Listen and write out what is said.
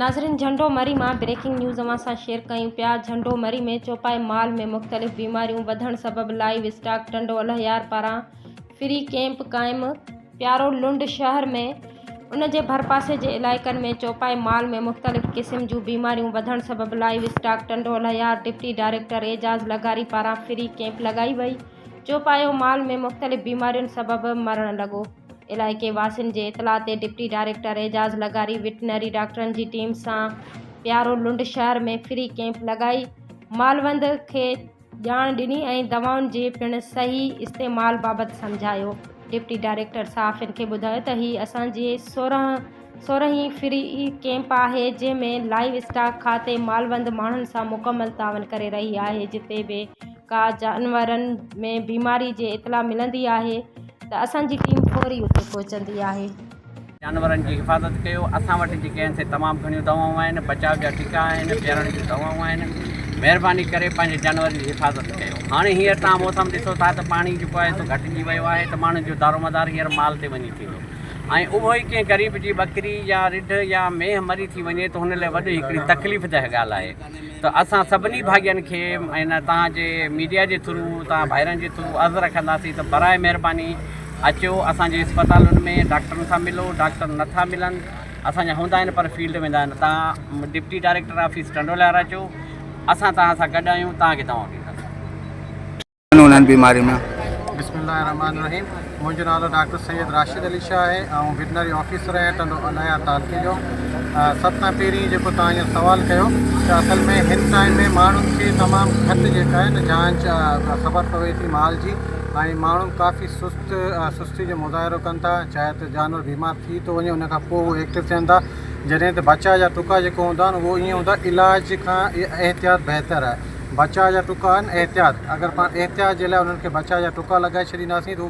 ناظرين جهنڊو مري مان بريڪنگ نيوز اوهان سان شيئر ڪيون پيا جهنڊو مري ۾ چوپائي مال ۾ مختلف بيماريون وڌڻ سبب لائيو اسٽاڪ ٽنڊو الهيار پاران فري ڪيمپ قائم پيارو لنڊ شهر ۾ ان جي ڀرپاسي جي علائقن ۾ چوپائي مال ۾ مختلف قسم جون بيماريون وڌڻ سبب livestock Tando Allahyar deputy director Ijaz لغاري پاران فري ڪيمپ لڳائي وئي چوپايو مال ۾ مختلف بيمارين سبب مرڻ لڳو علائقي واسين جي اطلاع تي ڊپٽي ڊائريڪٽر اعجاز لغاري وٽنري ڊاڪٽرن جي ٽيم سان پيارو لنڊ شهر ۾ فري ڪيمپ لڳائي مالوند کي ڄاڻ ڏني ۽ دوائن جي پڻ صحيح استعمال بابت سمجهايو ڊپٽي ڊائريڪٽر صحافين کي ٻڌايو ته هي اسان جي سورهين فري ڪيمپ آهي جنهن ۾ لائيو اسٽاڪ کاتي مالوند ماڻهن سان مڪمل تعاون ڪري رهي آهي جتي به ڪا جانورن ۾ بيماري جي اطلاع ملندي آهي ته اسان جي ٽيم فوري اتي پهچندي آهي. جانورن جي حفاظت ڪيو اسان وٽ جيڪي آهن سي تمام گهڻيون دوائون آهن بچاء جا ٽيڪا آهن پيارڻ جون دوائون آهن مهرباني ڪري پنهنجي جانورن جي حفاظت ڪيو هاڻي هينئر توهان موسم ڏسو ٿا ته پاڻي جيڪو آهي سو گهٽجي ويو آهي ته ماڻهن جو دارومدار هينئر مال تي وڃي ٿيندو ۽ اهو ئي ڪنهن غريب جي ٻڪري يا رڍ يا مينهن مري ٿي وڃي ته هن لاء وڏي هڪڙي تڪليف ده ڳالهه آهي. ته اسان سڀني ڀاڳين کي ۽ توهان جي ميڊيا جي ٿرو توهان ڀائرن جي ٿرو عرض رکنداسين ته براء مهرباني اچو اسان جي اسپتالن ۾ ڊاڪٽرن سان ملو ڊاڪٽر نه ٿا ملن اسان جا هوندا آهن پر فيلڊ ويندا آهن توهان ڊپٽي ڊائريڪٽر آفيس ٽنڊو لهر اچو اسان توهان سان گڏ آهيون توهان کي دوائون ڏينداسين ڪونهن هن بيماري ۾. بسم الله الرحمٰن الرحيم منهنجو نالو ڊاڪٽر سيد راشد علي شاهه آهي آئون وٽنري آفيسر آهيان ٽنڊو الهيار تعلقي جو سڀ کان پهرين جيڪو توهان هينئر سوال ڪيو ته اصل ۾ هن ٽائيم ۾ ماڻهن کي تمام گهٽ جيڪا آهي نه جانچ خبر پوي ٿي مال جي ۽ ماڻهو ڪافي سست سستي جو مظاهرو ڪن ٿا چاهي ته جانور بيمار ٿي ٿو وڃي ان کان پوء هو ايڪٽو ٿين ٿا جڏهن ته بچا يا ٽڪا جيڪو هوندا آهن اهو ائين هوندا علاج کان احتياط بهتر آهي بچاء جا ٽڪا آهن احتياط اگر پاڻ احتياط جي لاء انهن کي بچاء جا ٽڪا لڳائي ڇڏينداسين ته هو